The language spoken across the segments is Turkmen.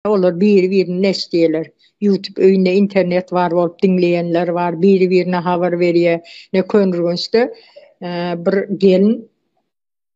Olar biri-birini näçe diýerler, YouTube öýünde internet bar bolup diňleýänler bar, biri-birine habar berýär. Ine, Köneürgençde bir gelin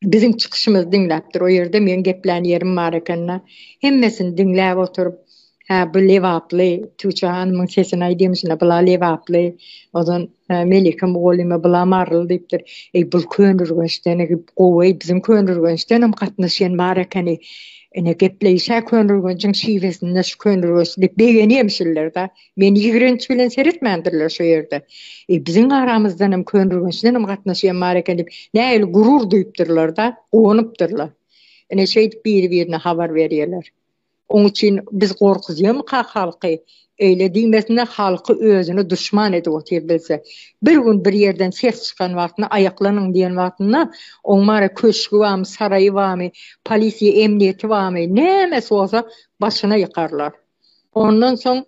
biziň çykyşymyzy diňläpdir. O ýerde meň geplän ýerim bar eken-de. Hemmesini diňläp oturyp, Hä, bu lebaply, Tuça hanymyň sesini-aý diýmişine, bula lebaply. Ozan Melike mugallyma bula Marl diýipdir. Eý, bul Köneürgençden gowy-eý, biziň Köneürgençdenem gatnaşýan bar ekeni. Ine, gepleýiş-ä Köneürgenjiň şiwesinde şu Köneürgenç diýip begenýärmiş şular-da. Meni ýigrenç bilen seretmändirler şu ýerde. Eý, biziň aramyzdanam Köneürgençdenem gatnaşýan bar eken diýip, nähili gurur duýupdyrlar-da, guwanypdyrlar. Ine, şeýdip biri-birine habar berýärler. Oň üçin biz gorkuzýamyka halky? Öýle diýmesine halky özüne duşman edip otyr bilse. Bir gün bir ýerden ses çykan wagtynda aýaklanyň diýen wagtynda oň mara köşgi bamy saraýy bamy polisiýa emniýeti bamy nämesi bolsa başyna ýykarlar. Ondan soň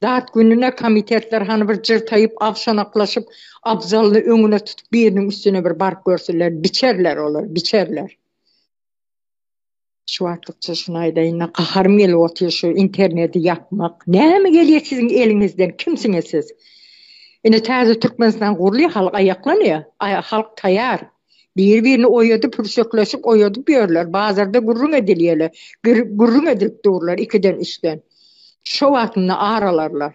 dat gününe komitetler hany bir jyrtaýyp agşanaklaşyp abzalyny öňüne tutup biriniň üstüne bir baryp görsünler biçerler olar biçerler. Şu wagtlykça şuny aýdaýyn-da, gaharym gelip otyr şu interneti ýapmak. Näme gelýär siziň eliňizden, kimsiňiz siz? Ine täze Türkmenistan gurulýar, halk aýaklanýar, halk taýar. Biri-birini oýadyp, pürşekleşip oýadyp ýörler, bazarda gürrüň edilýärler, gürrüň edilip durlar ikiden-üçden. Şo wagtynda aralarlar.